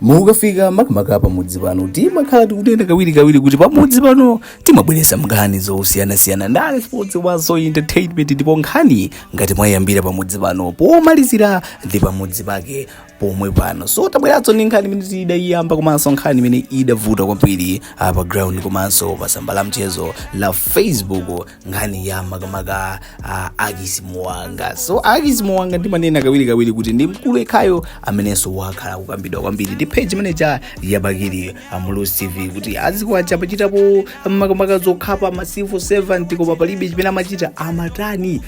mukafika makamaka pamudzi pano timakhala tikunena kawirikawiri kuti pamudzi pano timabweretsa nkhani zosiyanasiyana ndale sports komanso entertainment ndipo nkhani ngati mwayiyambira pamudzi pano pomalizira ndi pamudzi pake pomwe pano so tabweranso ndi nkhani imene tidayiyamba komanso nkhani imene idavuta kwambiri pa ground komanso pa tsamba la mchezo la facebook nkhani ya makamaka uh, akisi muwanga so akisi muwanga ndimanena kawirikawiri kuti ndi mkulu yekhayo amenenso wakhala kukambidwa kwambiri ndi page imene ija ya bakili muluzi tv kuti azikwanje amachitapo makamaka zokhapa ma sylvester namiwa koma palibe chimene amachita amatani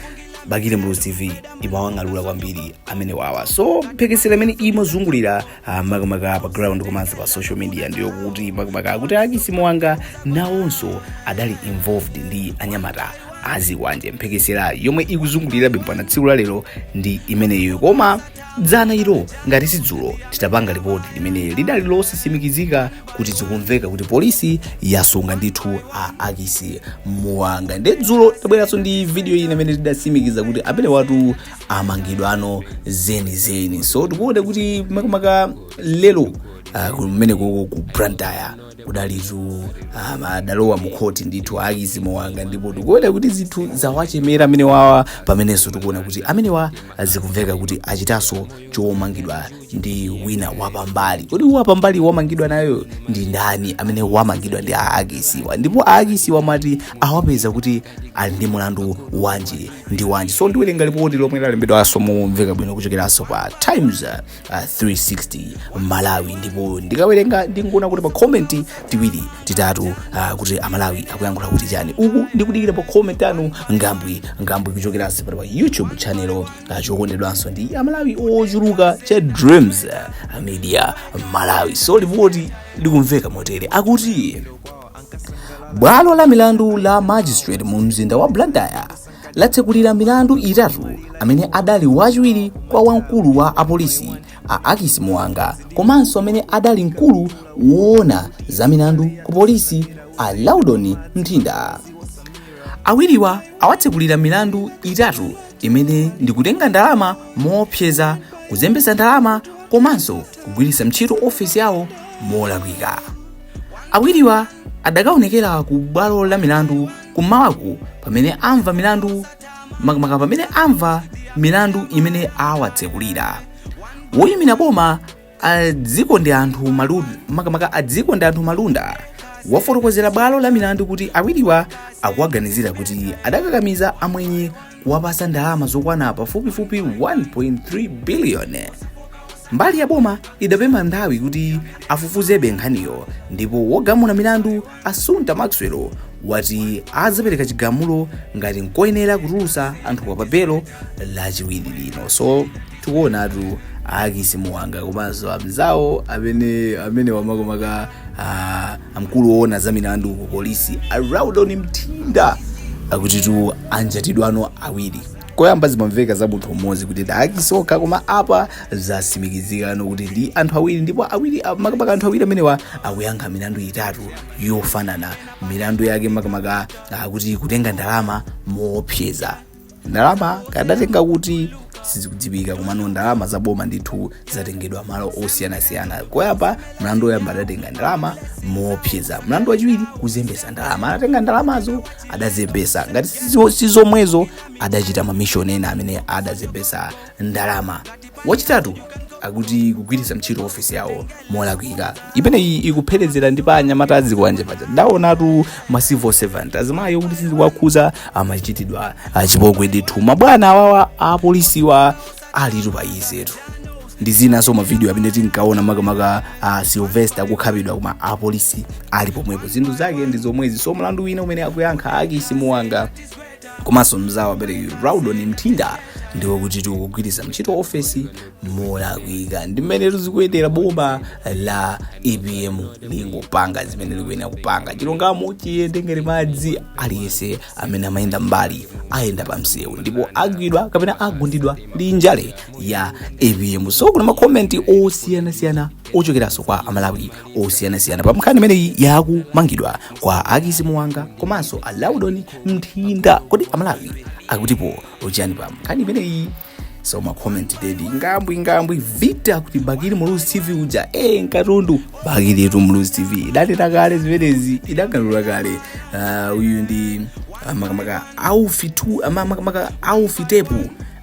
bakili muluzi tv imawang'alula kwambiri amenewawa so mphekesera imene imazungulira Ah, makamaka pa ground komanso pa social media ndi yokuti makamaka akuti akisi muwanga nawonso adali involved ndi anyamata azikwanje mphekesera yomwe ikuzungulirabe mpaka tsiku la lero ndi imeneyo koma dzana ilo ngati sidzulo titapanga lipoti limene lidali losatsimikizika kuti zikumveka kuti polisi yasunga ndithu a akisi muwanga nde dzulo tabweraso ndi video ina imene idatsimikiza kuti amenewatu amangidwano zenizeni so tikuona kuti makamaka lero uh, kumene koko ku blantyre kudalitu um, adalowa mukhoti ndithu akisi muwanga ndipo tikuona kuti zinthu zawachemera amenewawa pamenenso tikuona kuti amenewa zikumveka kuti achitanso chomangidwa ndi wina wapambali kodi wapambali wamangidwa nawo ndi ndani amene wamangidwa ndi aakisiwa ndipo aakisiwa mwati awapeza kuti ali ndi mulandu wanji ndi wanji so ndiwerenga lipoti lomwe lalembedwanso momveka bwino kuchokeranso pa times uh, 360 malawi ndipo ndikawerenga ndingoona kuti timakomenti tiwiri titatu uh, kuti amalawi akuyankhula kuti chani uku ndikudikira makomenti anu ngambwi ngambwi kuchokeranso pano pa youtube channel ah, chokondedwanso ndi amalawi ochuluka cha dreams ah, media malawi so lipoti likumveka motere akuti bwalo la milandu la magistrate mu mzinda wa blantyre latsekulira milandu itatu amene adali wachiwiri kwa wamkulu wa apolisi a akisi muwanga komanso amene adali mkulu woona za milandu ku polisi a laudon mthinda awiriwa awatsekulira milandu itatu imene ndi kutenga ndalama moopseza kuzembetsa ndalama komanso kugwiritsa ntchito ofesi yawo molakwika awiriwa adakaonekera ku bwalo la milandu kummawaku pamene amva milandu makamaka pamene amva milandu imene awatsekulira woyimira boma a dzikondianthu malunda makamaka a dzikondianthu malunda wafotokozera bwalo la milandu kuti awiriwa akuwaganizira kuti adakakamiza amwenye kuwapasa ndalama zokwana pafupifupi 1.3 billion mbali ya boma idapempha nthawi kuti afufuzebe nkhaniyo ndipo wogamula milandu Assunta Maxwell wati azapereka chigamulo ngati nkoyenera kutulusa anthuwa pa belo lachiwiri lino so tikuonatu a ackis muwanga komanso amzawo amene amene makamaka amkulu woona za milandu ku polisi a loudon mtinda akutitu anjatidwano awiri koyamba zimamveka za munthu mmodzi kuti ndi ackis okha koma apa zasimikizikano kuti ndi anthu awiri ndipo awiri a- makamaka anthu awiri amenewa akuyankha milandu itatu yofanana milandu yake makamaka akuti kutenga ndalama moopseza ndalama adatenga kuti sizikudziwika komano ndalama za boma ndithu zatengedwa malo osiyanasiyana koyamba mlandu woyamba adatenga ndalama moopseza mlandu wachiwiri kuzembesa ndalama anatenga ndalamazo adazembesa ngati sizo- sizomwezo adachita mamishoni ena amene adazembesa ndalama wachitatu akuti kugwiritsa ntchito ofisi yawo molakwika imeneyi ikupherezera ndi pa anyamata a zikwanje paja ndaonatu ma civil servant azimayi okuti sizikuwakhuza amachitidwa achipongwe ndithu mabwana awawa apolisiwa alitu pa izetu ndi zinanso mavidiyo amene tinkaona makamaka uh, sylvester akukhapidwa koma apolisi ali pomwepo zinthu zake ndi zomwezi so mlandu wina umene akuyankha a ackis muwanga komanso mzawo abereki loudon mthinda ndi wokutitu kugwiritsa ntchito ofesi molakwika ndi mmenetu zikuyendera boma la apm lingopanga zimene likuyenera kupanga chilungamo chiyende ngati madzi aliyense amene amayenda mbali ayenda pa msewu ndipo agwidwa kapena agundidwa ndi njale ya apm so kuli makomenti osiyanasiyana ochokeranso kwa amalawi osiyanasiyana pa nkhani imeneyi ya kumangidwa kwa ackis muwanga komanso a loudon mthinda kodi amalawi akutipo chani pa nkhani imeneyi so makomenti ndedi ngambwi ngambwi vita akuti bakili muluzi tv uja e nkatundu bakilitu muluzi tv idanena kale zimenezi idang'alula kale Ah, uyu ndi ah, makamaka aufitu ah, ma- makamaka aufitepu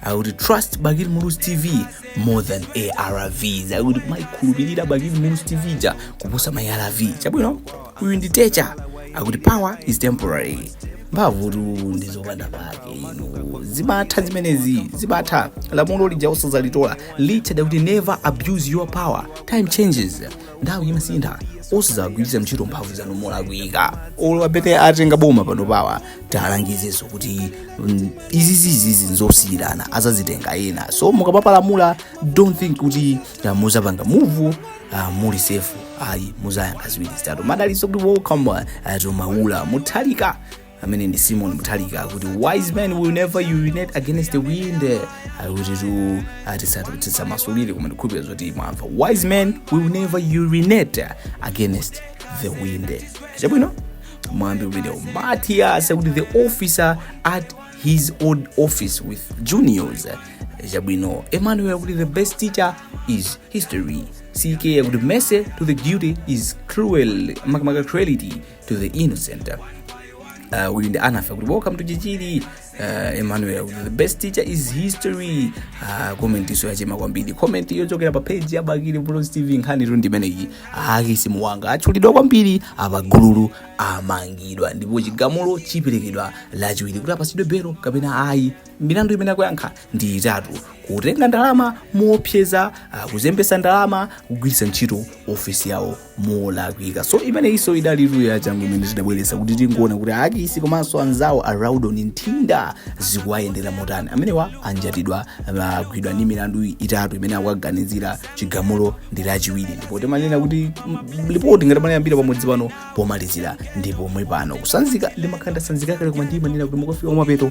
akuti trust bakili muluzi tv more than arvs akuti kumayikhulupirira bakili muluzi tv ja kuposa ma arv chabwino uyu ndi techa akuti power is temporary mphamvutu ndi zopanda pake inu zimatha zimenezi zimatha lamulo lija osazalitola richard akuti never abuse your power time changes nthawi imasintha osazagwiritsa ntchito mphamvu zanu molakwika olo amene atenga boma panopawa tiwalangizeso kuti mm, izizizizi nzosiyirana azazitenga ena so mukamapalamula don't think kuti muzapanga muvu uh, muli safe ayi muzayankha ziwiri zitatu madaliso kuti welcome uh, to maula mutalika amene ndi simon mutalika kuti wise men will never urinate against the wind uh, kuti ti uh, tisa tisamasulire koma ndikhulupira zoti mwamva wise men will never urinate against the wind chabwino mwambi umenewo matias akuti the officer at his old office with juniors chabwino emmanuel kuti the best teacher is history ck akuti mercy to the guilty is cruel makamaka cruelty to the innocent uh, uyu ndi anafa kuti welcome to chichiri uh, emmanuel the best teacher is history uh, comment inso yachema kwambiri comment yochokera pa page ya bakili bros tv nkhanitu ndi imeneyi akisi muwanga atchulidwa kwambiri apa gululi amangidwa ndipo chigamulo chiperekedwa lachiwiri kuti apasidwe belo kapena ayi milandu imene akuyankha ndi itatu kutenga ndalama moopseza ah, kuzembesa ndalama kugwiritsa ntchito ofesi yawo molakwika so imeneyinso idali link ya changu imene tidabweretsa kuti tingoona kuti achisi komanso anzawo a raudon nthinda zikuwayendera motani amenewa anjatidwa agwidwa ndi milandu itatu imene akuwaganizira chigamulo ndi lachiwiri ndipo timanena kuti mm, lipoti ngati munayambira pamodzi pano pomalizira ndi pomwe pano kusanzika ndi makanda sanzika kale koma ndimanena kuti mukafika kumapeto